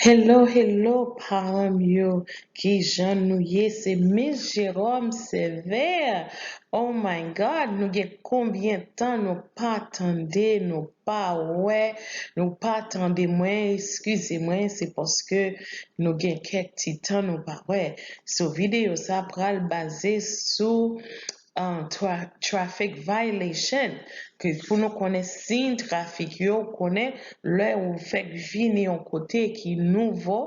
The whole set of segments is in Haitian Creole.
Hello hello paranm yo kijan nou ye se miss Jerome severe oh my God nou gen konbyen tan nou pa tande nou pa wè nou pa tande mwen eskize mwen se paske nou gen kèk ti tan nou pa wè so video sa pral baze sou traffic violation ke pou nou konnen siy trafik yo konnen lè ou fèk vini yon kote ki nouvo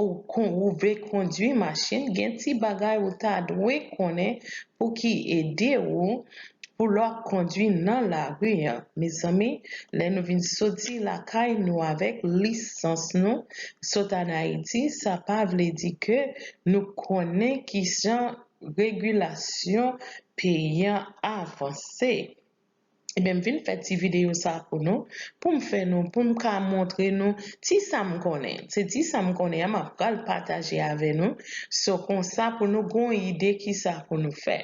ou vle kondwi machin gen ti bagay ou ta dwe konnen pou ki ede ou pou lè wap kondwi nan lari an mezanmi lè nou vin soti lakay nou avèk lisans nou sot an ayiti sa pa vle di ke nou konnen kijan Regulasyon peyi an avanse. Ebyen m vin fè ti videyo sa pou nou, pou m fè nou, pou m ka montre nou ti sa m konnen. Se ti sa m konnen an m ap pral pataje avè nou. So konsa pou nou gon ide kisa pou nou fè.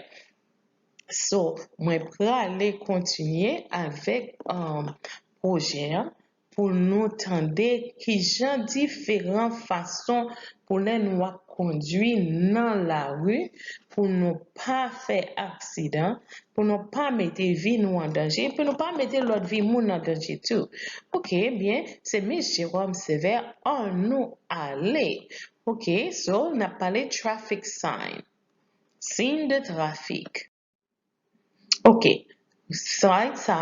So mwen prale kontinye avèk pwojè an. pou nou tande kijan diferan fason pou lè nou ap kondwi nan lari pou nou pa fè aksidan, pou nou pa mete vi nou an danje epi nou pa mete lòt vi moun an danje tou. Ok ebyen se Miss Jerome Sévère an nou ale ok so nap pale traffic sign, siy de trafik. Ok slide sa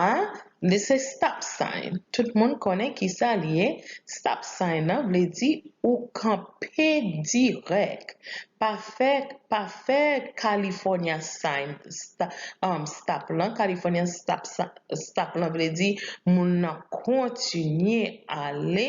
li se stop sign tout moun konnen kisa li ye stop sign nan vle di ou kanpe dirèk pa fè pa fè California sign stop lan California stop lan vle di moun nan kontinye ale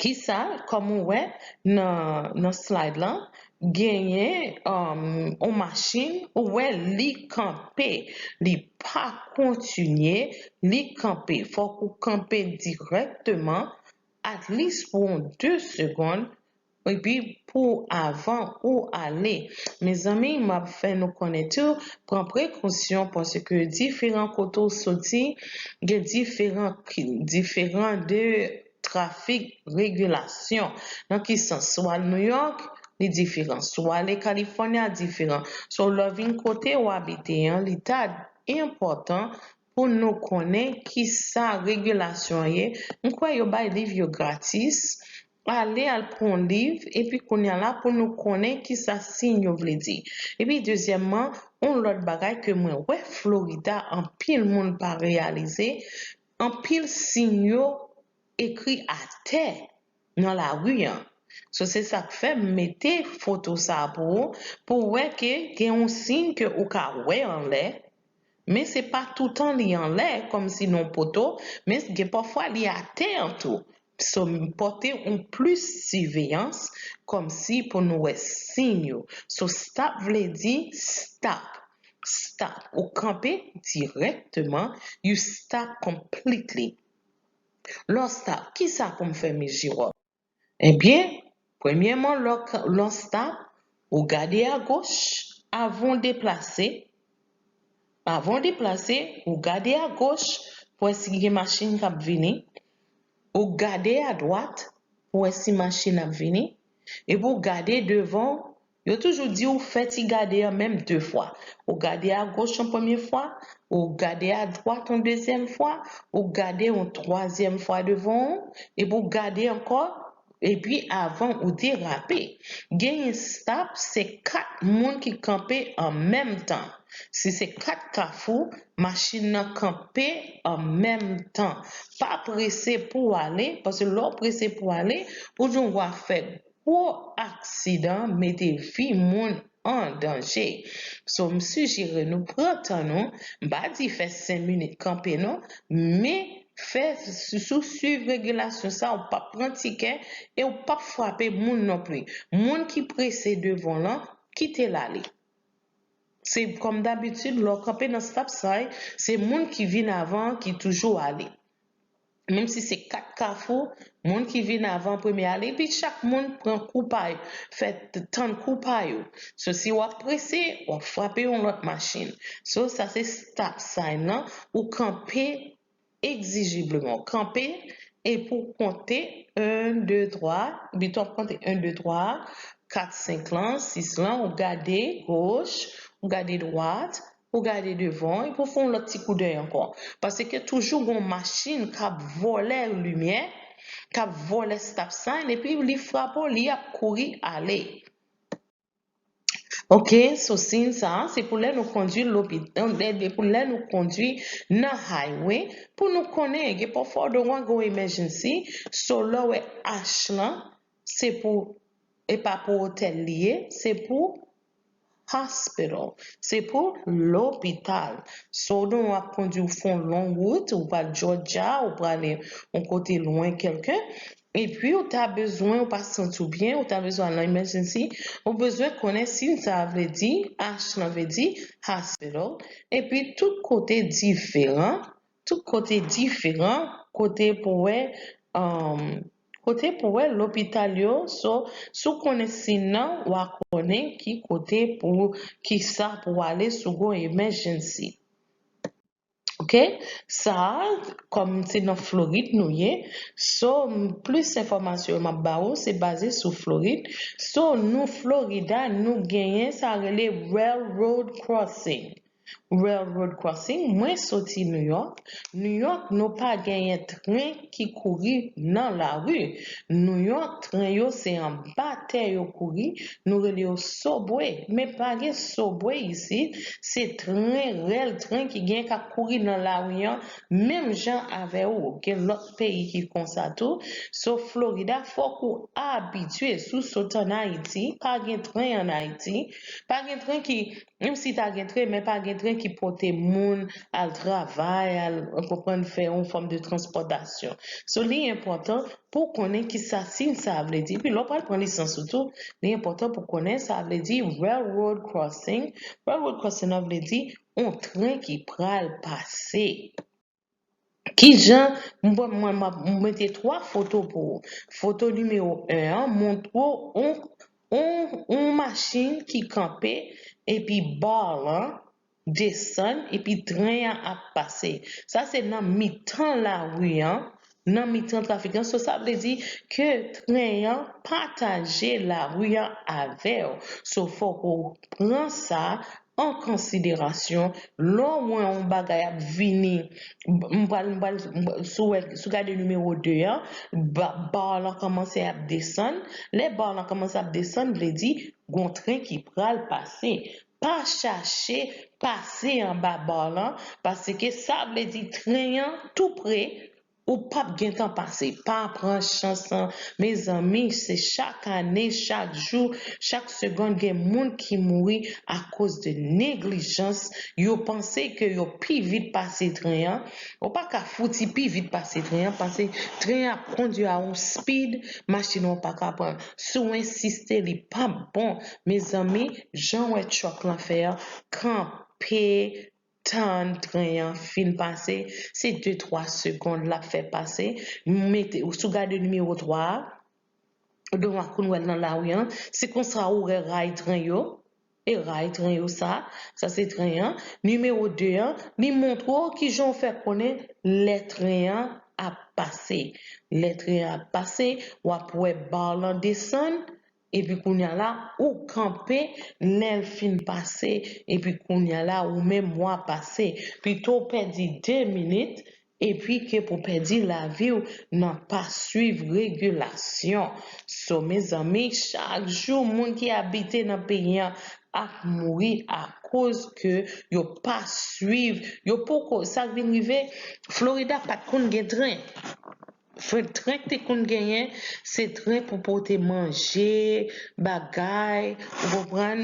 Kisa kòm ou wè nan nan slide lan genyen yon machin ou wè li kanpe li pa kontinye li kanpe fòk ou kanpe dirèkteman atlis pou yon 2 segond Epi pou avan ou ale. Mezanmi map fè nou konnen tou pran prekosyon paske diferan kote w soti gen diferan diferan de trafik regilasyon nan ki sans sou al nouyòk li diferan sou ale kalifònya diferan so lè w vin kote w abite an li ta enpòtan pou nou konnen kisa regilasyon ye m kwè yo bay liv yo gratis. Ale al pran yon liv epi kounya la pou nou konnen kisa siy yo vle di. Epi dezyèmman, yon lòt bagay ke mwen wè Florida anpil moun pa reyalize, anpil siy yo ekri atè nan lari an. So se sak fè m mete foto sa a pou ou, pou w wè ke gen yon siy ke ou ka wè anlè, men se pa toutan li anlè kòmsi nan yon poto, men gen pafwa li atè an tou. Psaume yo pòte on plis siveyans kòm si pou nou wè sin yo. So stop vle di stop, stop, ou kanpe dirèkteman, you stop completely. Lè w stop, kisa pou m fè mi Jiròm? Ebyen, Premyèman lè w k lonsta ou gade a goch avan w deplase avan w deplase ou gade a goch pou wè si gen machin k ap vini ou gade a dwat pou wè si machin ap vini epi w gade devan w Yo toujou di w fè ti gade an menm de fwa. Ou gade agoch yon premye fwa, ou gade adwat yon dezyèm fwa, ou gade yon twazyèm fwa devan w, epi w gade ankò, epi avan ou derape. Genyen stop se 4 moun ki kanpe an menm tan. Si se 4 kafou, machin nan kanpe an menm tan. Pa prese pou w ale, paske lè w prese pou w ale, ou jwenn w a fè Gwo aksidan mete vi moun an danje. So m sijere nou pran tan nou, m pa di fè 5 minit kanpe non, men fè si ou swiv regilasyon sa ou pap pran tikè e ou pap frape moun non pli. Moun ki prese devan w lan, kite l ale. Se kòm dabitid lè w kanpe nan stop sign, se moun ki vin avan an ki toujou ale. Menm si se 4 kafou, moun ki vin avan an premye ale, epi chak moun pran kou pa yo, fè tann kou pa yo. So si w ap prese, w ap frape yon lòt machin. So sa se stop sign lan, ou kanpe egzijibleman. Ou kanpe epi w konte 1, 2, 3, epi tan w ap konte 1, 2, 3, 4, 5 lan, 6 lan, ou gade goch, ou gade dwat, Pou gade devan w epi w fè yon lòt ti koudèy ankò. Paske toujou gon machin k ap vòlè limyè, k ap vòlè stop sign epi li frape w li ap kouri ale. Ok so siy sa a se pou lè nou kondwi pou lè nou kondwi nan highway pou nou konnen gen pafwa w dwe wè gon emergency so lè w wè H lan Se pou E pa pou otèl li ye, se pou Hospital. Se pou lopital. So w nou ap kondi w fè yon long wout, ou pral Jòjya, ou prale yon kote lwen kèlke, epi ou ta bezwen, ou pa santi w byen, ou ta bezwen al nan emèjènsi, ou bezwen konnen sin sa a vle di, H lan vle di Hospital, epi tout kote diferan, Tout kote diferan kote pou wè umm kote pou wè lopital yo so si w konnen si nan wa konnen ki kote pou kisa pou w ale si w gon emèjènsi ok sa kòm se nan florid nou ye so plis enfòmasyon yo map ba ou se baze sou florid so nou florida nou genyen sa rele railroad crossing Railroad Crossing mwen soti New York, New York nou pa genyen tren ki kouri nan lari, New York tren yo se anba tè yo kouri nou rele yo subway men pa gen subway isi se tren rèl tren ki gen kap kouri nan lari an menm jan avè ou gen lòt peyi ki konsa tou so Florida fòk ou abitye sou sot an Ayiti pa gen tren an Ayiti pa gen tren ki Menm si ta gen tren men pa gen tren ki pote moun al travay al ou konprann fè yon fòm de transpòtasyon. So li enpòtan pouw konnen kisa siy sa vle di epi lèw pral pran lisans ou tou li enpòtan pou konnen sa vle di railroad crossing, railroad crossing nan vle di yon tren ki pral pase. Kijan m pran mwen m ap mete 3 foto pou ou. Foto nimewo 1 an montre w on on on machin ki kanpe epi bar lan desann epi tren an ap pase. Sa se nan mitan lari an nan mitan trafikan so sa vle di ke tren an pataje lari an avèw so fòk ou pran sa an konsiderasyon lè w wè yon bagay ap vini m pral m pral si w gade nimewo 2 an ba lan kòmanse ap desann lè ba lan kòmanse ap desann vle di gon tren ki pral pase Pa chache pase anba bar lan paske sa vle di tren an tou pre ou pap gentan pase pa pran chans lan mezanmi se chak ane chak jou chak segond gen moun ki mouri akoz de neglijans yo panse ke yo pi vit pase tren an ou pa ka fouti pi vit pase tren an pase tren an ap kondi a yon speed machine an paka pran si w ensiste li pap bon. Mezanmi janw wè truck lan fè an kanpe tann tren an fin pase se de twa segond lap fè pase mete si w gade nimewo 3 a donk ak ou wèl nan lari an se konsa ou wè ray tren yo e ray tren yo sa sa se tren an nimewo 2 an li montre w kijan w fè konnen lè tren an ap pase lè tren an ap pase wap wè bar lan desann Epi kounya la ou kanpe lèl fin pase epi kounya la ou menm wa pase pito w pèdi 2 minit epi ke pou pèdi laviw nan pa swiv regilasyon so mezanmi chak jou moun ki abite nan peyi an ap mouri akoz ke yo pa swiv yo poko sak vin rive florida pat konn gen tren. Frenk Trenk te konn genyen, se tren pou pote manje, bagay, ou konprann,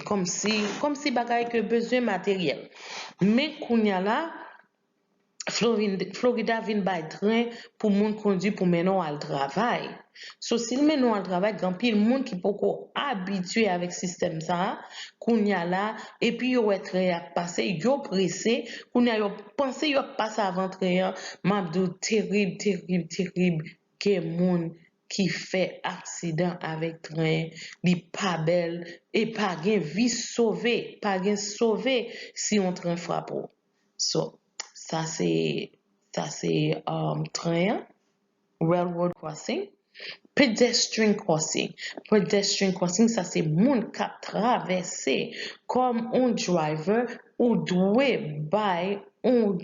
kòmsi, kòmsi bagay ke bezwen materyèl. Men kounya la, Florida vin bay tren pou moun kondwi pou mennen w al travay. So sil mennen w al travay gen anpil moun ki poko abitye avèk sistèm sa a kounya la epi yo wè trè ap pase yo prese kounya yo panse yo ap pase avan trè an map di w terib terib terib gen moun ki fè aksidan avèk tren li pa bèl e pa gen vi sove pa gen sove si yon tren frape w so sa se sa se tren an. Railroad crossing, Pedestrian crossing, Pedestrian crossing sa se moun kap travèse kòm on driver ou dwe bay on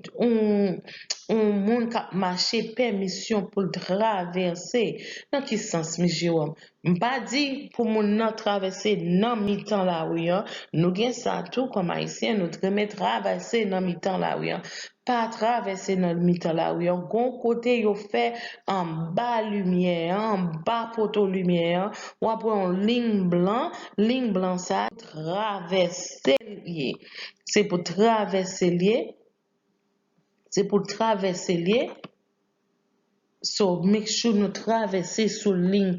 moun kap mache pèmisyon poul travèse nan ki sans M. Jérôme? M pa di pou moun nan travèse nan mitan lari an, nou gen sa tou kòm ayisyen nou t renmen travèse nan mitan lari an Pa travèse nan mitan lari an, gen yon kote yo fè anba limyè an, anba poto limyè an, w ap wè yon lign blan, lign blan sa a, travèse l ye, se pou travèse l ye, se pou travèse l ye, so make sure nou travèse sou lign,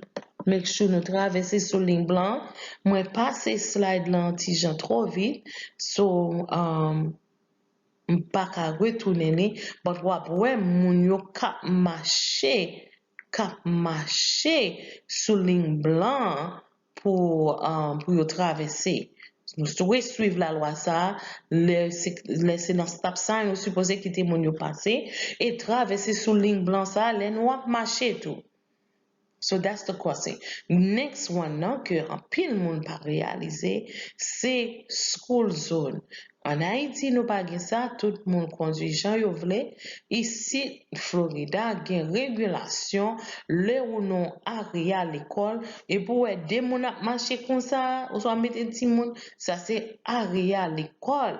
make sure nou travèse sou lign blan an, mwen pase slide lan yon ti jan twò vit, so. M paka retounen li but wap wè moun yo kap mache kap mache sou liy blan an pou yo travèse nou dwe swiv lalwa sa lè se nan stop sign nou sipoze kite moun yo pase e travèse sou liy blan sa lè nou ap mache tou. So that's the question. Next one nan ke anpil moun pa reyalize se school zone. An Ayiti nou pa gen sa, tout moun kondwi jan yo vle. Isit Florida gen regilasyon lè ou nan area lekòl epi ou wè 2 moun ap mache konsa oswa mete timoun sa se area lekòl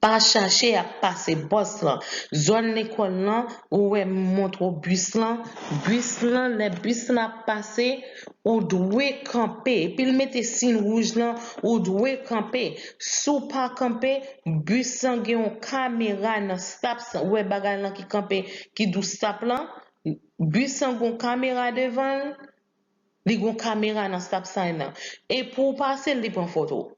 Pa chache ap pase bòs lan zòn lekòl lan ou wè m montre w bis lan bis lan lè bis lan ap pase ou dwe kanpe epi l mete siy wouj lan ou dwe kanpe si w pa kanpe bis lan gen yon kamera nan stop sign ou wè bagay lan ki kanpe ki dou stop lan bis lan gen yon kamera devan l li gen yon kamera nan stop sign lan e pou w pase l li pran foto w.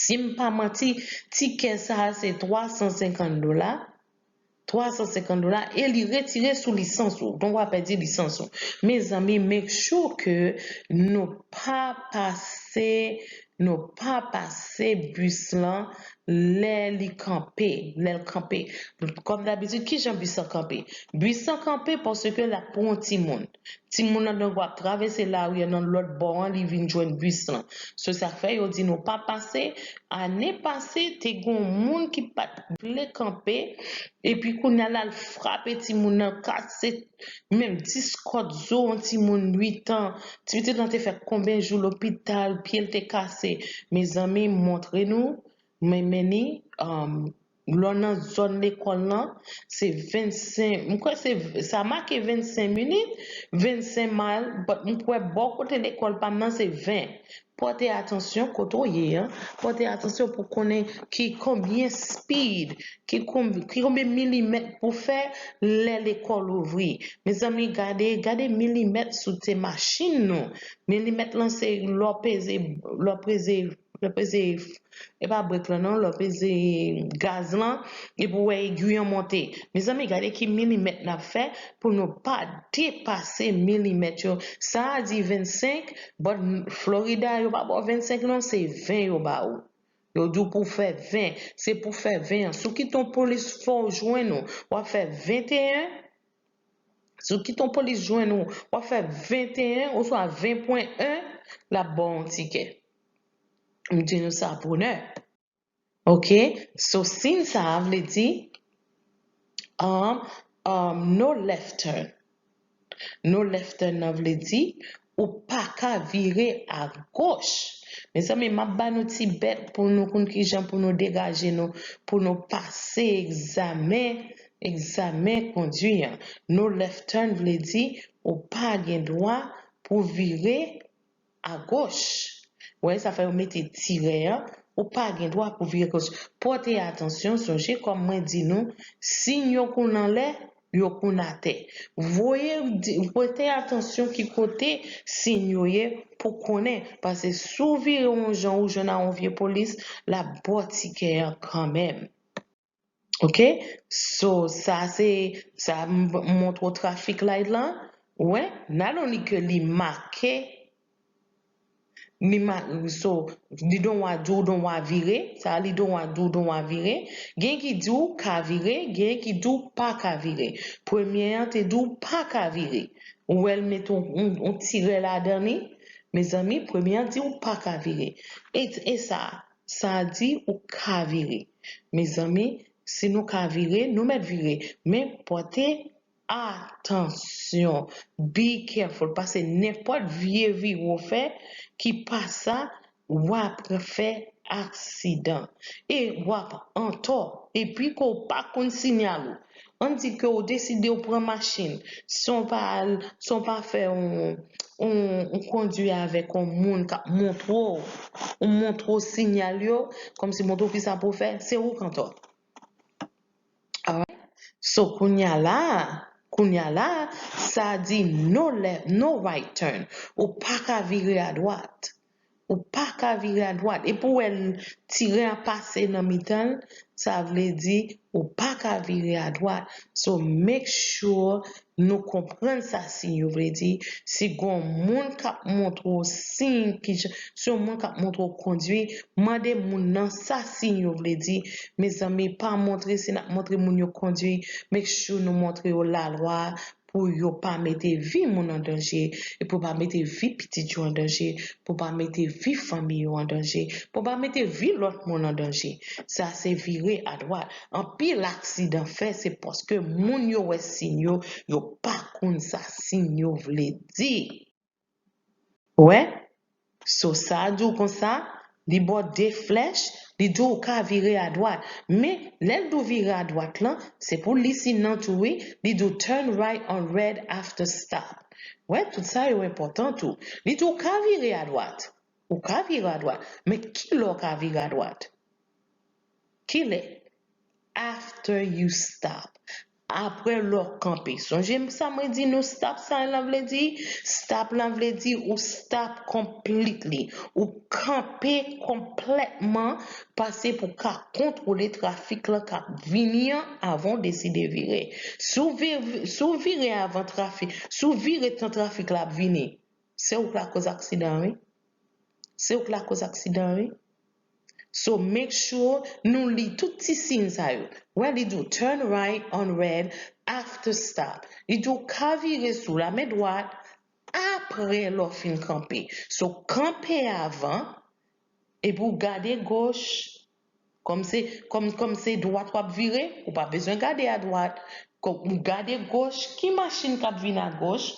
si m pa manti, tikè sa a se 350 dola, 350 dola e li retire sou lisans ou. Donk w a pèdi lisans ou. Mezanmi make sure ke nou pa pase, nou pa pase bis lan lè li kanpe, lè l kanpe. Kòm dabitid, kijan bis lan kanpe? Bis lan kanpe paske l ap pran yon timoun. Timoun lan donk wap travèse lari an nan lòt bò an li vin jwenn bis lan. Se sak fè yo di nou pa pase, ane pase te gen yon moun ki pat vle kanpe epi kounya la l frape timoun lan kase menm 10 kòd zo yon timoun 8 an, ti pitit lan te fè konbyen jou lopital, pye l te kase. Mezanmi m montre nou, mwen mennen. Lò nan zòn lekòl lan, se 25, m kwè se, sa make 25 minit, 25 mile, but m kwè bò kote lekòl pa m nan se 20. Pòte atansyon kote w ye an, pòte atansyon pou konnen ki konbyen speed, ki konbyen milimèt pou fè lè lekòl ouvri. Mezanmi gade, gade milimèt sou te machin nou. Milimèt lan se lè w peze, lè w peze. Lè w peze, e pa brek lan non, lè w peze gaz lan epi w wè egui an monte. Mezanmi gade ki milimèt n ap fè pou nou pa depase milimèt yo. Sa a di 25, bò Florida yo pa ba w 25 non, se 20 yo ba ou. Yo di w pou w fè 20, se pou w fè 20 an. Sou ki ton plis fò w jwenn ou? W ap fè 21? Sou ki ton polis jwenn ou, wap fè 21 oswa 20 pwen 1, lap baw yon tikè. M di nou sa bonè. Ok, so siyn sa a vle di um no left turn. No left turn nan vle di Ou paka vire a goch. Mezanmi map ba nou ti bèt pou nou konn kijan pou nou degaje nou pou nou pase egzamen egzamen kondwi an. No left turn vle di ou pa gen dwa pou vire a goch. Ou wè sa fè yo mete tirè an ou pa gen dwa pou vire goch. Pòte atansyon sonje kòm mwen di nou siy yo konn anlè yo konn atè. Voye prete atansyon ki kote siyn yo ye pou konnen pase si w vire yon jan ou jwenn a yon vye polis lap baw tikè an kanmenm ok so sa se sa montre w trafik light lan wè nan loni ke li make Ni ma so li don wa di w don wa vire, sa a li don wa di w don wa vire. Gen ki di w ka vire, gen ki di w pa ka vire. Premye an te di w pa ka vire. Ou wè l met on on on tirè ladan li? Mezanmi, premye an di w pa ka vire. E e sa a? Sa a di ou ka vire. Mezanmi, si nou ka vire, nou mèt vire. Men, pòte Atansyon! Be careful pase nenpòt vye vire w fè ki pa sa w apre fè aksidan e w ap antò epi ke w pa konn sinyal ou an di ke w deside w pran machin san w pa al san w pa fè yon kondwi avèk yon moun k ap montre w montre w sinyal yo kòmsi montre w kisa pou w fè se ou k antò. So kounya la kounya la sa di no left no right turn ou paka vire a dwat ou paka vire a dwat epi ou wè tiren ap pase nan mitanl sa vle di ou paka vire a dwat so make sure Nou konprann sa siy yo vle di, si gon moun kap montre w siy kijan, si yon moun kap montre w kondwi, mande moun nan sa siy yo vle di, mezanmi pa montre si nap montre moun yo kondwi, make sure nou montre yo lalwa a pou yo pa mete vi moun an danje, pou yo pa mete vi pitit yo an danje, pou yo pa mete vi fanmi yo an danje, pou yo pa mete vi lòt moun an danje. Sa se vire adwat. Anpil aksidan fè se paske moun yo wè siy yo, yo pa konn sa siy yo vle di. Ou wè? So sa di w konsa, li ba w de flèch, li di w ou ka vire adwat. Men, lè l di w vire adwat lan, se pou w li siy nan tou wi, li di w turn right on red after stop. Ou wè, tout sa yo enpòtan tou. Li di w ou ka vire adwat. Ou ka vire adwat. Men kilè w ka vire adwat? Kilè? After you stop. Apre lè w kanpe. Sonje sa mwen di nou stop sign lan vle di? Stop lan vle di ou stop completely. Ou kanpe konplètman pase pou w ka kontwole trafik lan k ap vini an avan w deside vire. Si w vire avan trafik, si w vire tan trafik la ap vini, se ou k lakòz aksidan an wi. Se ou k lakòz aksidan an wi. So make sure nou li tout ti siy sa yo. Wè li di w turn right on red after stop. Li di w ka vire sou lame dwat apre lè w fin kanpe. So kanpe avan epi w gade goch kòm se kòm se dwat w ap vire ou pa bezwen gade adwat. Gade goch ki machin k ap vin agoch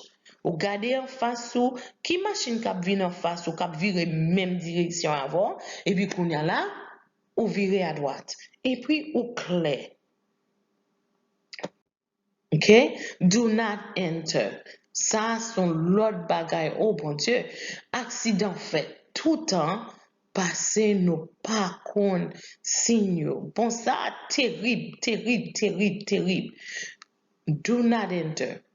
Ou gade anfas ou, ki machin k ap vin anfas ou k ap vire menm direksyon avè w, epi kounye a la, ou vire adwat. Epi ou klè. Ok? Do not enter. Sa a s on lòt bagay o Bondye! Aksidan fèt toutan pase nou pa konn siy yo. Bon sa a terib, terib, terib, terib. Do not enter.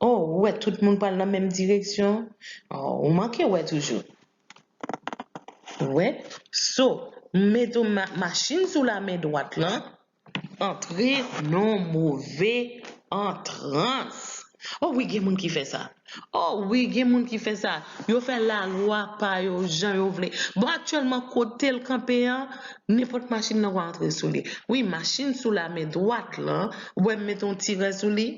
Oh ou wè tout moun pral nan menm direksyon oh ou manke wè toujou ou wè so m mete machin sou la men dwat lan antre non move antrans oh wi gen moun ki fè sa. Oh wi gen moun ki fè sa, yo fè lalwa pa yo jan yo vle. Bon aktyèlman kotel kanpe an, nenpòt machin nan wè antre sou li. Wi machin sou lamen dwat lan, wè m mete yon ti vè sou li.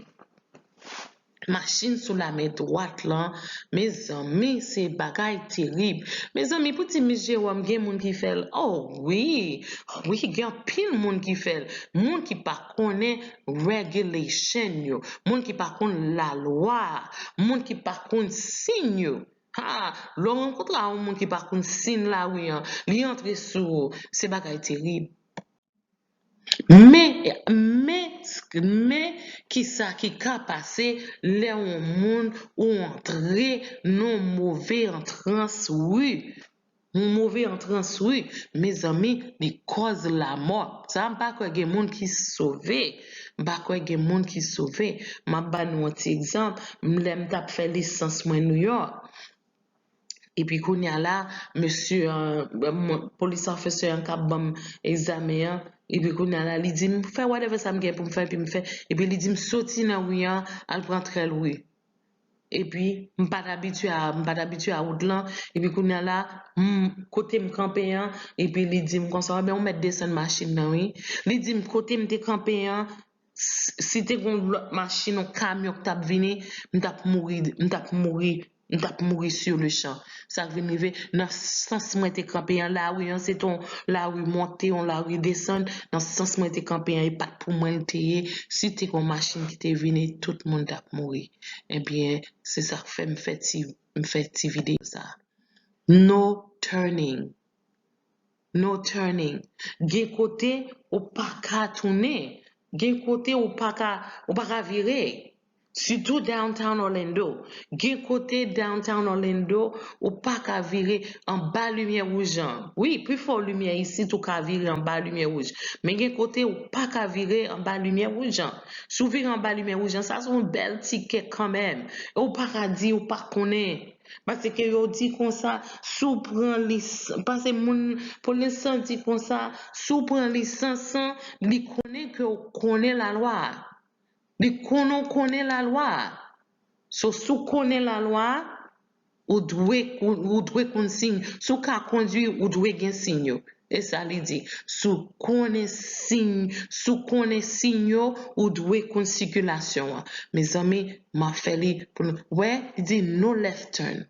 Machin sou lamen dwat lan, mezanmi se bagay terib. Mezanmi pou ti mis Jewòm gen moun ki fè l oh wi, wi gen anpil moun ki fè l, moun ki pa. konnen regulation yo, moun ki pa konn lalwa a, moun ki pa konn sign yo. Haa, lè w rankontre a yon moun ki pa konn sign lari an, li antre sou ou, se bagay terib. Men, men, men kisa ki ka pase lè yon moun ou antre nan yon move antrans wi. Yon move antrans wi mezanmi li kòz lamò sa m pa kwè gen moun ki sove m pa kwè gen moun ki sove m ap ba nou yon ti egzanp m lè m t ap fè lisans mwen Nouyòk epi kounye a la mesye an police officer an k ap ban m egzamen an epi kounye a la li di m fè whatever sa m gen pou m fè epi m fè epi li di m soti nan ri an al pran tèl ri. epi m pa t abitye a, m pa t abitye a wout lan, epi kounye a la, m, kote m kanpe an, epi li di m konsa, anben ou mèt desann machin nan wi. Li di m kote m te kanpe an, si te gen yon lòt machin, yon kamyon k t ap vini, m t ap mouri, m t ap mouri, m t ap mouri sur le champ. Sak vin rive nan sans mwen te kanpe an lari an se te yon lari monte yon lari desann nan sans mwen te kanpe an e pat pou mwen l te ye si te gon machin ki te vini tout moun tap mouri ebyen se sak fè m fè ti m fè ti videyo sa no turning. No turning. Gen kote ou pa ka tounen. Gen kote ou pa ka ou pa ka vire. Sitou downtown Orlando. Gen kote downtown Orlando ou pa ka vire anba limyè wouj an. Wi, pifò limyè isit ou ka vire anba limyè wouj. Men gen kote ou pa ka vire anba limyè wouj an. Si w vire anba limyè wouj an, sa se yon bèl tikè kanmenm. E ou pa ka di ou pa konnen Pase ke yo di konsa, si w pran lis, pase moun, polis lan di konsa, si w pran lisans an, li konnen ke w konnen lalwa a. Li konnen w konnen lalwa a. So, si w konnen lalwa a, ou dwe, ou dwe konn siy. Si w ka kondwi, ou dwe gen siy yo. E sa li di, Si w konnen siy, si w konnen siy yo, ou dwe konn sikilasyon an. Mezanmi, m ap fè li pou nou. Wè, li di, No left turn.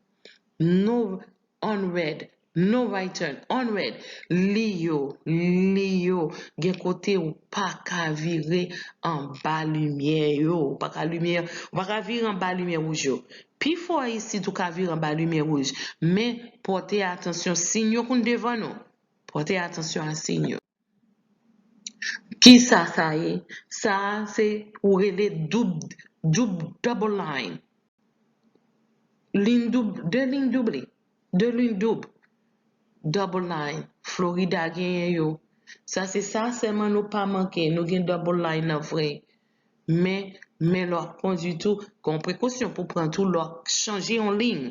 No on red. No right turn. On red. Liy yo, liy yo, gen kote ou pa ka vire anba limyè yo. Ou pa ka limyè, ou pa ka vire anba limyè wouj yo. Pifò isit ou ka vire anba limyè wouj, men pòte atansyon siyn yo koun devan nou. Pòte atansyon a siyn yo. Kisa sa ye? Sa a se ou rele doub, double line. Liyn doub, de liyn double, de liyn doub. Double line, Florida genyen yo. Sa se sa sèman nou pa manke, nou gen double line nan vre. Men, men lè w ap kondwi tou, gen yon prekosyon pou w pran tou lè w ap chanje yon liy.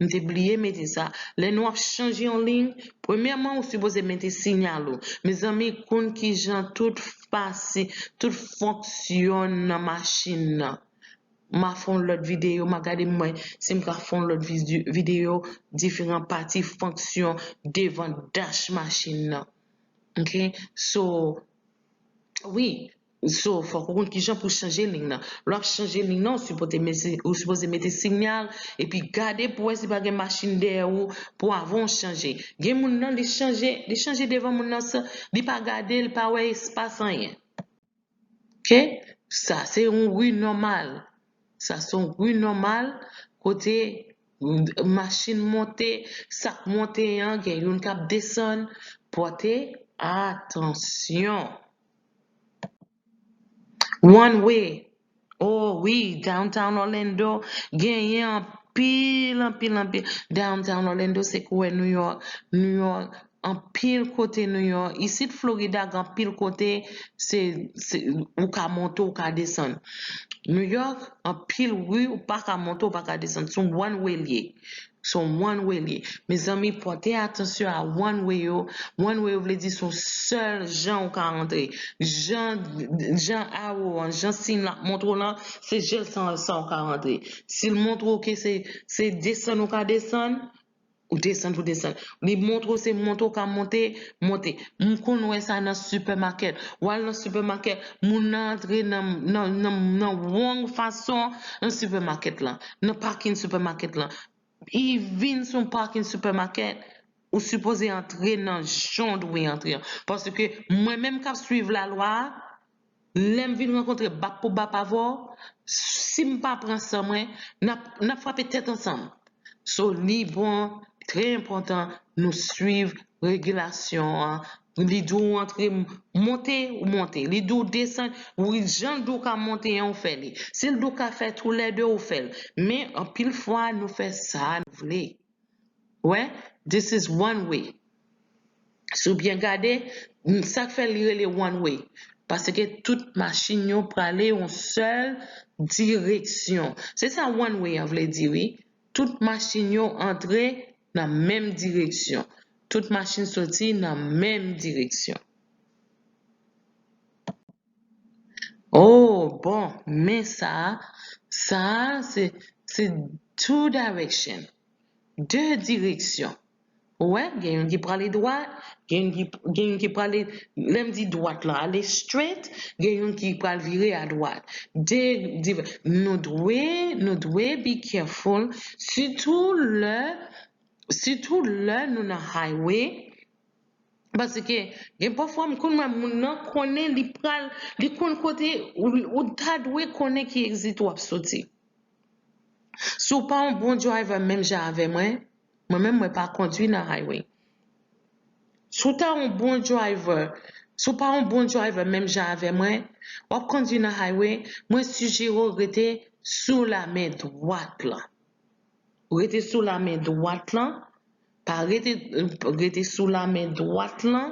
M te bliye mete sa. Lè nou ap chanje yon liy, premyèman ou sipoze mete sinyal ou. Mezanmi kounn ki jan tout fasi, tout fonksyonn nan machin nan. M a fè yon lòt videyo, m a gade m wè si m ka fè yon lòt videyo diferan pati fonksyon devan dach machin nan. Ok, so, wi, So fòk ou konn kijan pou chanje lign nan. Lè wap chanje lign nan ou sipoze mete sinyal epi gade pou wè si pa gen machin dèyè ou pou avan ou chanje. Gen moun nan li chanje li chanje devan moun nan san li pa gade li pa wè espas anyen. Ok sa se yon ri nòmal sa se yon ri nòmal kote machin monte sak monte an gen youn kap desann pòte atansyon. One way oh wi downtown Orlando genyen anpil anpil anpil downtown Orlando se kouwè new york new york anpil kote new york isit Florida gen anpil kote se se ou ka monte ou ka desann new york anpil ri ou paka monte ou paka desann son one way liye Son one way liye. Mezanmi pòte atansyon a one way yo, one way yo vle di son sèl jan ou ka rantre. Jan jan arrow an, jan siy la ap montre w lan, se jèl san sa ou ka rantre. Si l montre w ke se se desann ou ka desann, ou desann pou desann. Li montre w se monte ou ka monte, monte. M konn wè sa nan sipèmakèt. W al nan sipèmakèt, moun nan antre nan nan nan nan wong fason nan sipèmakèt lan. nan pakin supermarket lan e vin son pakin supermarket ou sipoze antre nan jan dwe antre an paske mwen menm kap swiv la lwa lèm vin rankontre bap pou bap avèw sim pa pran san mwen nap frape tèt ansanm so li bon trè enpotan nou swiv regilasyon an. Li di w antre, monte, ou monte. Li di w desann, wi jan l di w ka monte an ou fè li. Si l di w ka fè toulède ou fè l. Men anpil fwa nou fè sa nou vle. Ou wè? This is one way. Si w byen gade, sa k fè li rele one way? Paske tout machin yo prale yon sèl direksyon. Se sa one way an vle di wi. Tout machin yo antre nan menm direksyon. Tout machin soti nan menm direksyon. O, bon, men sa a, sa a se, se two direction, de direksyon. Ou wè, gen youn ki prale dwat, gen youn ki, gen youn ki prale, lè m di dwat lan, ale straight, gen youn ki pral vire a dwat. De div, nou dwe, nou dwe be careful, sitou lè, sitou lè nou nan highway, paske gen pafwa m konn wè moun nan konnen li pral, li konn kote ou ta dwe konnen ki exit ou ap soti. Si w pa yon bon driver menm jan avè mwen, mwen menm mwen pa kondwi nan highway. Si w ta yon bon driver, si w pa yon bon driver menm jan avè mwen, w ap kondwi nan highway, mwen sijere w rete sou lamen dwat lan. Rete sou lamen dwat lan, pa rete, rete sou lamen dwat lan,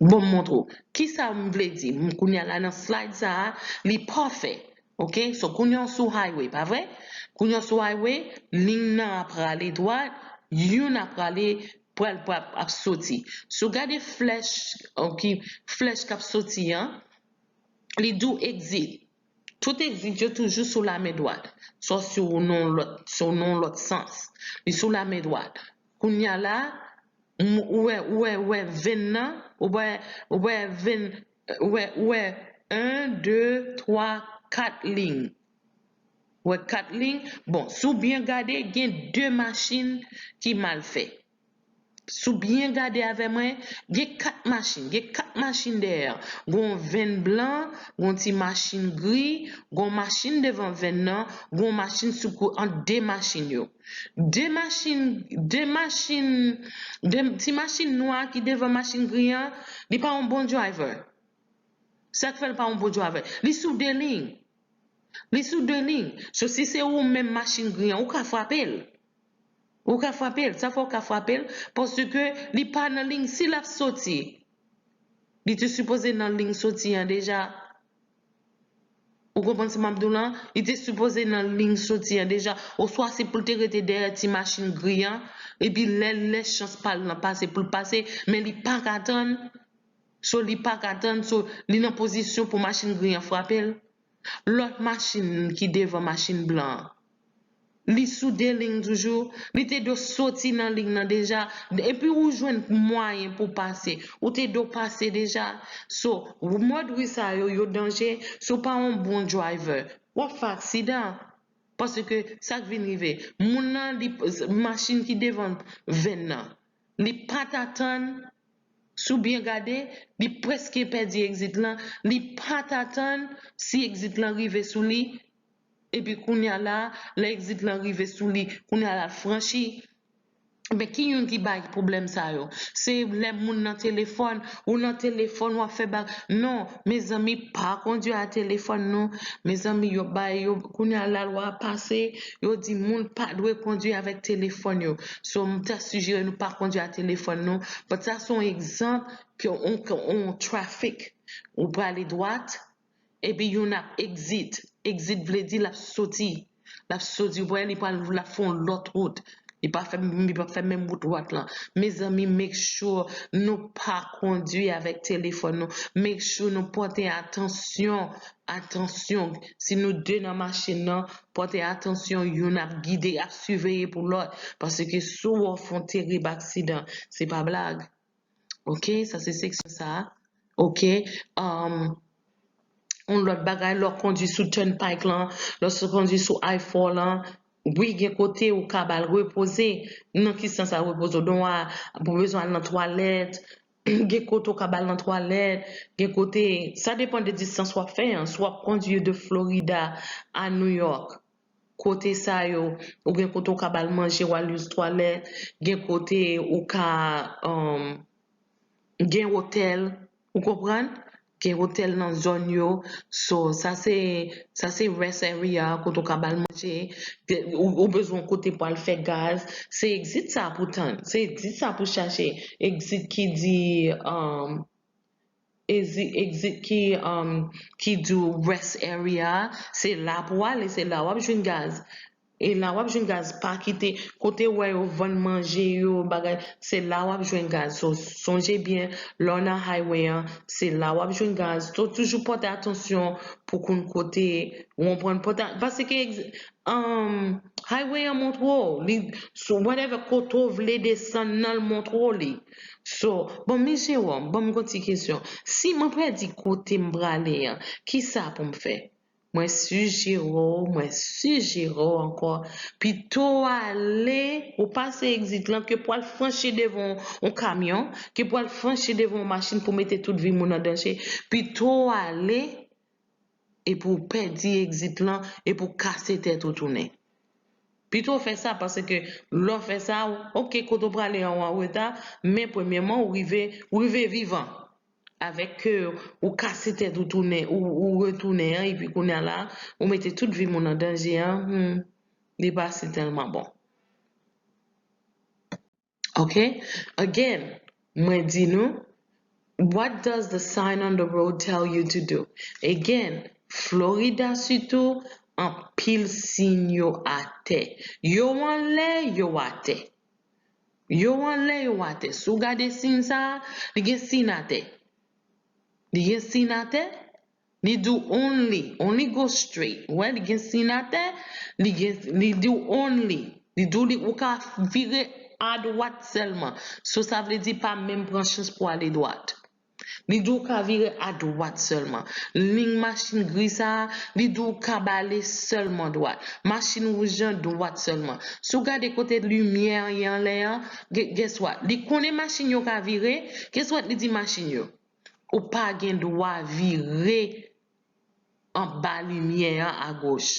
Bon m montre w kisa m vle di kounya la nan slide sa li pafè ok so kounya w sou highway pa vre kounya w sou highway ligne nan ap rale dwat youn ap rale pral pap ap soti si w gade flèch ok flèch kap soti an li di w exit Tout egzit yo toujou sou lamen dwat, sòf si w nan yon lòt sans. Li sou lamen dwat. Kounye a la, ou wè, ou wè, ou wè venn nan? Ou wè, ou wè venn, ou wè, ou wè en, de, twa, kat lign? Ou wè kat lign? Bon, si w byen gade, gen de machin ki mal fè. Si w byen gade avè mwen, gen 4 machin. Gen 4 machin dèyè an. Gen yon venn blan, gen yon ti machin gri, gen yon machin devan venn nan, gen yon machin sou kou ant 2 machin yo. 2 machin, 2 machin, 2 ti machin nwa ki devan machin gri an, li pa yon bon driver. Sa k fè l pa yon bon driver? Li sou 2 liy. Li sou 2 liy. So si se ou menm machin gri an, ou ka frape l. Ou ka frape l, sa fè ou ka frape l paske li pa nan liy si l ap soti. Li te sipoze nan liy soti an deja. Ou konprann sa m ap di w lan? Li te sipoze nan liy soti an deja oswa se pou l te rete dèyè ti machin gri an epi lè lè chans pa l lan pase pou l pase men li pa ka tann so li pa ka tann so li nan pozisyon pou machin gri an frape l. lòt machin ki devan machin blan an. Li sou 2 ling toujou, li te do soti nan ling nan deja, epi ou jwenn mwayen pou pase, ou te do pase deja. So, mòd ri sa yo, yo danje, si w pa yon bon driver, w ap fè aksidan. Paske sa k vin rive, moun nan li, machin ki devan venn nan, li pat atann si w byen gade li prèske pèdi egzit lan li pat atann si egzit lan rive sou li epi kounya la lè egzit lan rive sou li kounya la l franchi men ki youn ki bay pwoblèm sa yo se lè moun nan telefòn ou nan telefòn w ap fè ba non mezanmi pa kondwi a telefòn non mezanmi yo bay yo kounya lalwa pase yo di moun pa dwe kondwi avèk telefòn yo So m ta sijere nou pa kondwi a telefòn nou but sa se yon egzanp ke on on traffic ou prale dwat epi youn ap exit, exit vle di lap soti lap soti ou wè li pral lap fè yon lòt wout li pa fè li pap fè menm wout dwat lan mezanmi make sure nou pa kondwi avèk telefòn nou make sure nou pòte atansyon atansyon si nou 2 nan machin nan Pòte atansyon youn ap gide, ap siveye pou lòt, paske si w off yon terib aksidan, se pa blag. Ok, sa se seksyon sa a. Ok, yon lòt bagay, lè w kondwi sou turnpike lan, lè w kondwi sou I-4 lan, wi gen kote ou ka ba l repoze. Nan ki sans sa repoze w? Donwa pou bezwen al nan twalèt, Gen kote ou ka bal nan twalèt, gen kote, sa depan de distans wap fè an, si wap kondwi de Florida a New York, kote sa yo, ou gen kote ou ka bal manje wal use twalèt, gen kote ou ka, umm, gen otèl, ou konprann? Gen hotel nan zone yo so sa se sa se rest area kote ou ka bal manje ou bezwen yon kote pou al fè gaz se exit sa pou tann se exit sa pou chache exit ki di umm exit ki umm ki di rest area se la pou ale se la wap jwenn gaz. E la wap jwenn gaz pa kite kotew wè yo vann manje yo bagay se la wap jwenn gaz so sonje byen lèw nan highway an se la wap jwenn gaz so toujou pòte atansyon pou konn kote ou konprann pòte paske highway an montre w li so whatever kote ou vle desann nan l montre w li so bon mi Jérôme banm gon ti kesyon si mwen pèdi kotem prale an kisa poum fè Mwen sijere w, mwen sijere w ankò, pito w ale, ou pase egzit lan, ke pou w al franchi devan yon kamyon, ke pou w al franchi devan yon machin pou w mete tout vi moun an danje, pito w ale, epi w pèdi egzit lan, epi w kase tèt ou tounen. Pito w fè sa, paske lè w fè sa, ok, kote w prale an ou anreta, men premyèman ou rive, ou rive vivan. Avèk ke ou kase tèt ou tounen ou retounen an epi kounya la ou mete tout vi moun an danje an humm li pa si tèlman bon ok again mwen di nou what does the sign on the road tell you to do again Florida sitou anpil siy yo atè yo anlè yo atè. Yo anlè yo atè. Si w gade siy sa a, li gen siy natè. Li gen siy natè, li di w only, only go straight. Ou wè li gen siy natè, li gen, li di w only. Li di w li, ou ka vire adwat sèlman. So sa vle di pa menm pran chans pou ale dwat. Li di w ka vire adwat sèlman. Liy machin gri sa a, li di w kab ale sèlman dwat. Machin wouj lan, dwat sèlman. Si w gade kote limyè an ye anlè an, guess what? Li konnen machin yo ka vire, guess what li di machin yo? Ou pa gen dwa vire anba limyè an agoch.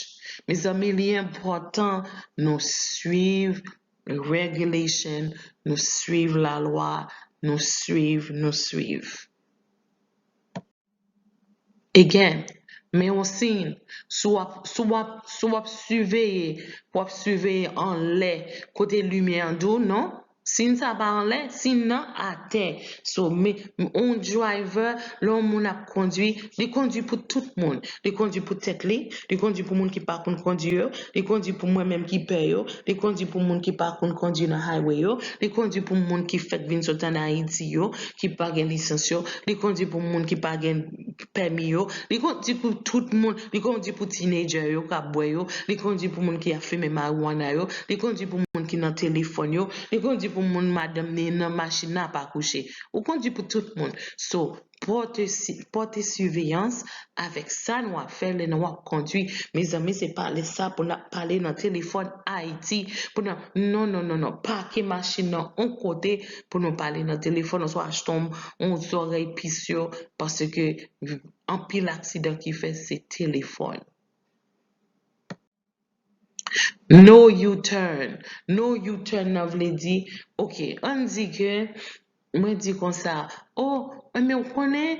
Mezanmi li enpòtan nou swiv regulation, nou swiv lalwa, nou swiv, nou swiv. Again, men yon siy, si w ap, si w ap, si w ap siveye, w ap siveye anlè kote limyè an di w non, Sin sa pa anlè, sin nan atè. So, me, on driver, lè on moun ap kondwi, li kondwi pou tout moun. Li kondwi pou tèt li, li kondwi pou moun ki pa konn kondwi yo, li kondwi pou mwen menm ki pè yo, li kondwi pou moun ki pa konn kondwi nan highway yo, li kondwi pou moun ki fèk vin sot an Ayiti yo, ki pa gen lisans yo, li kondwi pou moun ki pa gen. pèmi yo, li konn di pou tout moun, li konn di pou teenager yo kap bwè yo, li konn di pou moun ki ap fimen marijuana yo, li konn di pou moun ki nan telefòn yo, li konn di pou moun madanm li nan machin nan ap akouche. Ou konn di pou tout moun. So, pòte pòte siveyans avèk sa nou ap fè lè nou ap kondwi. Mezanmi se pa lè sa pou nap pale nan telefòn Ayiti pou nan non non non non pake machin nan on kote pou nou pale nan telefòn oswa achte yon zòrèy pis yo paske anpil aksidan ki fè se telefòn. No U-turn, No U-turn nan vle di ok ann di ke mwen di konsa o men ou konnen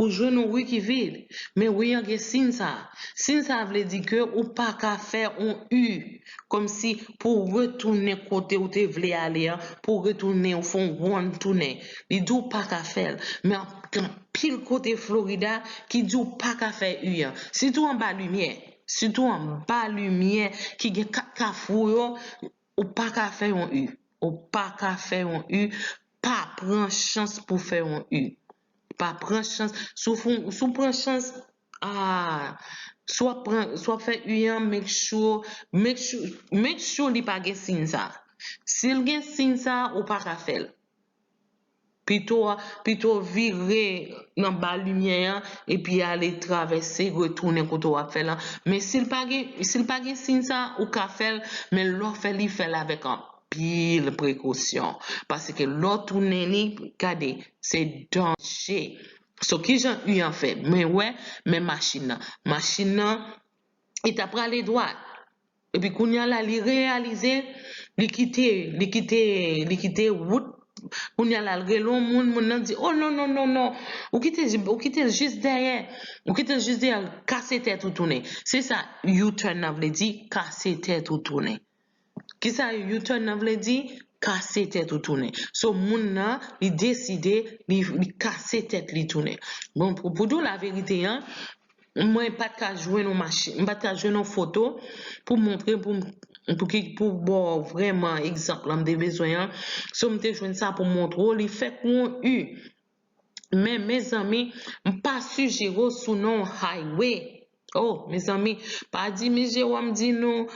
Ou jwenn yon wi ki vid, men wi an gen siy sa a. Siy sa a vle di ke ou pa ka fè yon u, kòmsi pou w retounen kote ou te vle ale an, pou w retounen, ou fè yon wonn tounen. Li di w pa ka fè l. Men gen anpil kote Florida ki di w pa ka fè u an. Sitou anba limyè. Sitou anba limyè ki gen kat kafou yo, ou pa ka fè yon u. Ou pa ka fè yon u. Pa pran chans pou w fè yon u. Pa pran chans. Si w fon, si w pran chans, aah, si w ap pran, si w ap fè u an, make sure, make sure, make sure li pa gen siy sa a. Si l gen siy sa a, ou pa ka fè l. Pito a, pito w vire nan ba limyè a epi ale travèse retounen kote w ap fè l lan. Men si l pa gen, si l pa gen siy sa a, ou ka fè l, men lè w fè l, fè l avèk anp. anpil prekosyon paske lè w tounen li gade se danje so kijan u an fè mwen wè men machin nan machin nan li ta prale dwat epi kounya la li reyalize li kite li kite li kite wout kounya la l rele yon moun moun nan di o non non non non ou kite ou kite l jis dèyè ou kite l jis dèyè kase tèt ou tounen se sa u-turn nan vle di kase tèt ou tounen. Kisa U-turn nan vle di? Kase tèt ou tounen. So moun nan li deside li li kase tèt li tounen. Bon pou pou diw laverite an mwen pat ka jwenn yon machin m pat ka jwenn yon foto pou montre pou m pou ki pou baw vrèman egzanp lan m te bezwen an. So m te jwenn sa pou montre w li fèt pou yon U. men mezanmi m pa su jero sou non highway oh mezanmi pa di miss Jerome di nou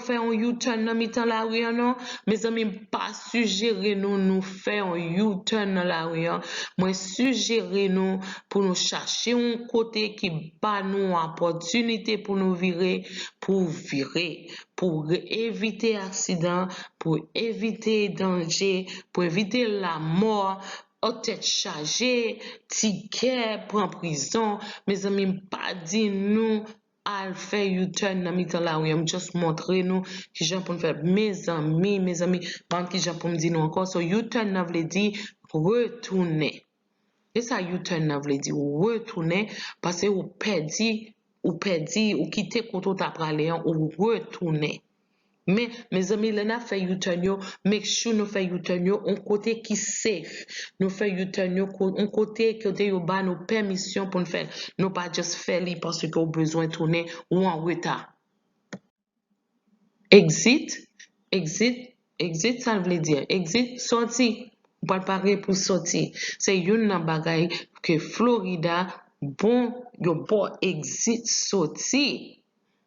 fè yon you turn nan mitan lari an non mezanmi m pa sujere nou nou fè yon you turn nan lari an mwen sujere nou pou nou chache yon kote ki ba nou yon opòtinite pou nou vire pou vire pou evite aksidan pou evite danje pou evite lamò Ohh tèt chaje, ti kè pran prizon, mezanmi m pa di nou al fè you turn nan mitan lari an m just montre nou kijan pou n fè mezanmi mezanmi m pa konn kijan pou m di nou ankò so you turn nan vle di retounen se sa you turn nan vle di ou retounen pase ou pèdi ou pèdi ou kite kote ou ta prale an ou retounen. Men mezanmi lè nap fè u-turn yo make sure nou fè u-turn yo yon kote ki safe nou fè u-turn yo yon kote kote yo ba nou pèmisyon poun fèl nou pa just fè li paske ou bezwen tounen ou an reta. Exit Exit Exit sal vle di Exit sòti ou pral pare pou sòti se youn nan bagay ke Florida bon yo baw exit sòti.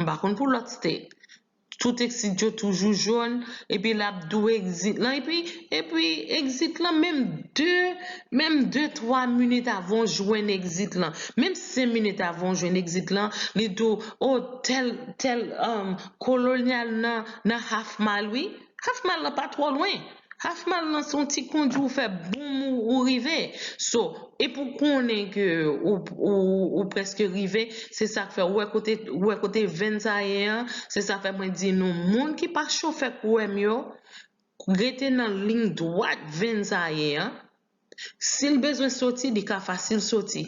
M pa konn pou lòt state. Tout exit yo toujou jaune epi lap dou exit lan epi epi exit lan menm de menm de twa minit avan w jwenn exit lan menm sen minit avan w jwenn exit lan li dou oh tèl tèl colonial nan nan half mile wi. Half mile lan pa twò lwen. Half mile lan se yon ti kondi ou fè boom ou rive. So, epi ou konnen ke ou prèske rive, se sa k fè, ou wè kote, ou wè kote venn sa ye an, se sa fè mwen di nou moun ki pa chofè kouwè m yo, rete nan lign dwat venn sa ye an, si l bezwen soti li ka fasil soti.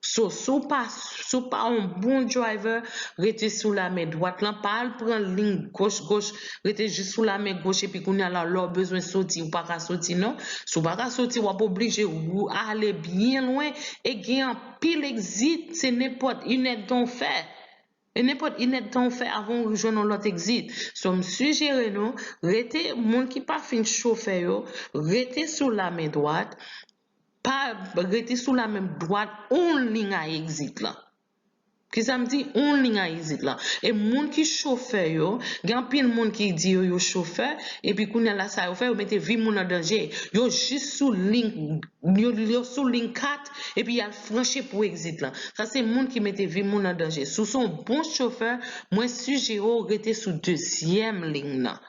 So si w pa si w pa yon bon driver rete sou lamen dwat lan pa al pran ling goch goch rete jis sou lamen goch epi kounye a la lè w bezwen soti ou pa ka soti non si w pa ka soti w ap oblije ou ale byen lwen e gen anpil exit se nenpòt inèdtan w fè e nenpòt inèdtan w fè avan ou jwenn yon lòt exit so m sijere nou rete moun ki pa fin chofè yo rete sou lamen dwat. pa rete sou la menm dwat oun ling a egzit lan. Kisa m di oun ling a egzit lan? E moun ki chofè yo, gen anpil moun ki di yo yo chofè, epi kounye a la sa yo fè, yo mete vi moun an danje. Yo jis sou ling, yo sou ling 4, epi y al franchi pou egzit lan. Sa se moun ki mete vi moun an danje. Si w se yon bon chofè, mwen sijere w rete sou dezyèm ling nan.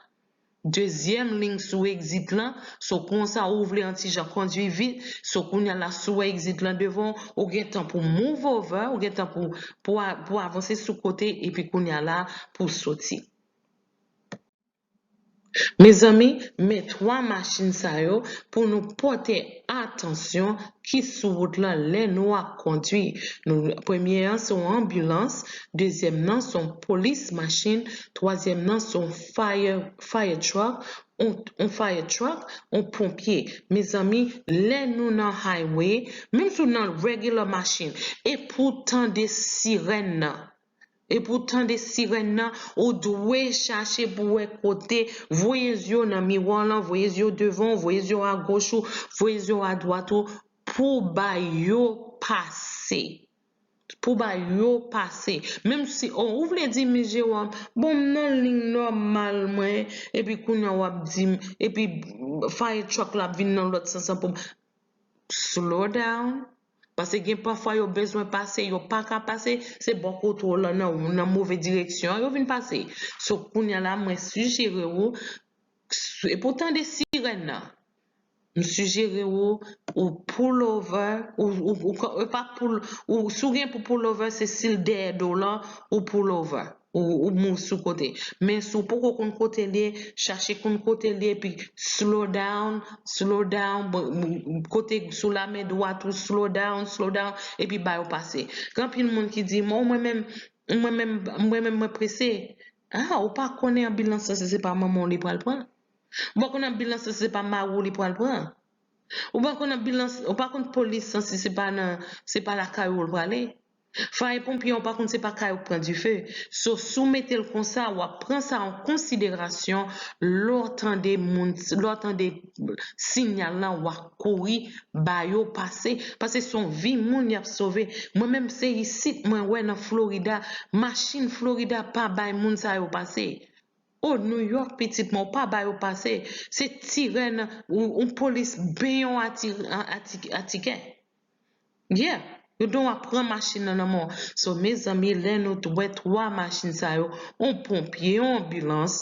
Dezyèm lign sou exit lan, so konsa ou vle an ti jan kondwi vit, so kounya la si w wè exit lan devan w, ou gen tan pou w move over, ou gen tan pou pou w avanse sou kote epi kounya la pou w soti. Mezanmi, men 3 machin sa yo pou nou pòte atansyon ki sou wout lan lè nou ap kondwi. Nou premye an se yon anbilans, dezyèm nan se yon polis machin, twazyèm nan se yon. fire truck on fire truck on ponpye mezanmi lè nou nan highway menm si w nan regular machine epou tande sirèn nan epou tande sirèn nan ou dwe chache pou wè kote voye zye w nan miwa w lan voye zye w devan w voye zye w agoch ou voye zye w adwat ou pou bay yo pase. Pou ba yo pase. Menm si oh ou vle di Miss Jérôme bon m nan ligne normale mwen epi kounya wap di m epi fire truck la ap vin nan lòt sans lan pou m Slow down pase gen pafwa yo bezwen pase yo pa ka pase se bò kote w lan nan move direksyon an yo vin pase so kounya la mwen sijere ou se pou w tande sirèn nan M sijere w ou pullover ou pa pull si w gen pou pullover se si l dèyè do w lan ou pullover ou move sou kote men si w poko konn kote l ye chache konn kote l ye epi slow down slow down kote sou la men dwat ou slow down slow down epi ba yo pase gen anpil moun ki di mwen menm mwen menm mwen prese ah ou pa konnen anbilans lan se pa manman w li pral pran. Ou pa konn anbilans lan si se pa marou li pral pran? Ou pa konn anbilans, ou pa konn polis lan si se pa nan, se pa lakay ou l prale? Faye ponpye an ou pa konn se pa kay ou k pran dife? So si w mete l konsa w ap pran sa an konsiderasyon lè w tande moun, lè w tande sinyal lan w ap kouri ba yo pase pase se yon vi moun y ap sove. Mwen menm se isit mwen wè nan Florida machin Florida pa bay moun sa yo pase. Oh new york pitit mwen ou pa ba yo pase se tire nan yon polis ben yon atikè yeah yo don ap pran machin nan nan men w so mezanmi lè nou t wè 3 machin sa yo yon ponpye yon anbilans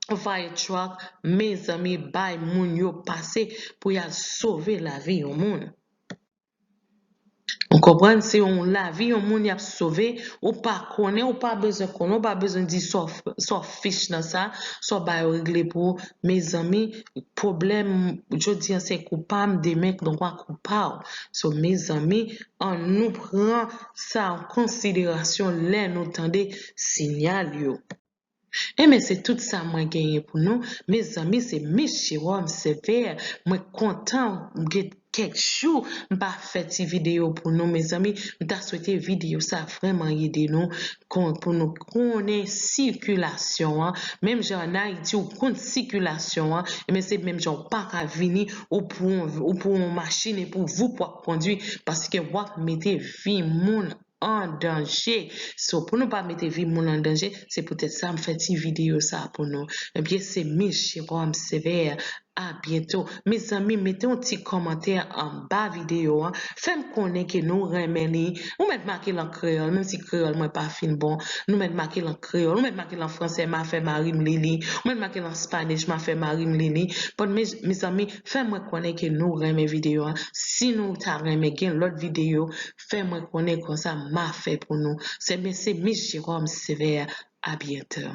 yon fire truck mezanmi bay moun yo pase pou yal sove lavi yon moun. Ou konprann se yon lavi yon moun yap sove ou pa konnen ou pa bezwen konnen ou pa bezwen di sa w fich nan sa sa w bay yo regle pou ou mezanmi pwoblèm jodi an se kou pa m demen nan ka kou pa w so mezanmi an nou pran sa an konsiderasyon lè nou tande sinyal yo. Enben se tout sa mwen genyen pou nou mezanmi se miss Jerome Sévère mwen kontan m gen kèk jou m pa fè ti video pou nou mezanmi m ta swete video sa vrèman ede nou pou nou konnen sikilasyon an menm jan an Ayiti ou konn sikilasyon an enben se menm jan ou paka vini ou pou on machin epi voup wap kondwi paske wap mete vi moun an danje so pou nou pa mete vi moun an danje se poutèt sa m fè ti video sa pou nou ebyen se mis Jérôme Sévère a byento mezanmi mete yon ti kòmantè anba video an fè m konnen ke nou renmen li ou mèt make l an kreyòl menm si kreyòl mwen pa fin bon nou mèt make l an kreyòl ou mèt make l an fransè ma fè mari m li li ou mèt make l an spanish ma fè mari m li li bon mezanmi fè mwen konnen ke nou renmen video an si nou ta renmen gen lòt video fè mwen konnen konsa ma fè pou nou sè men se miss Jérôme Sévère a bientôt.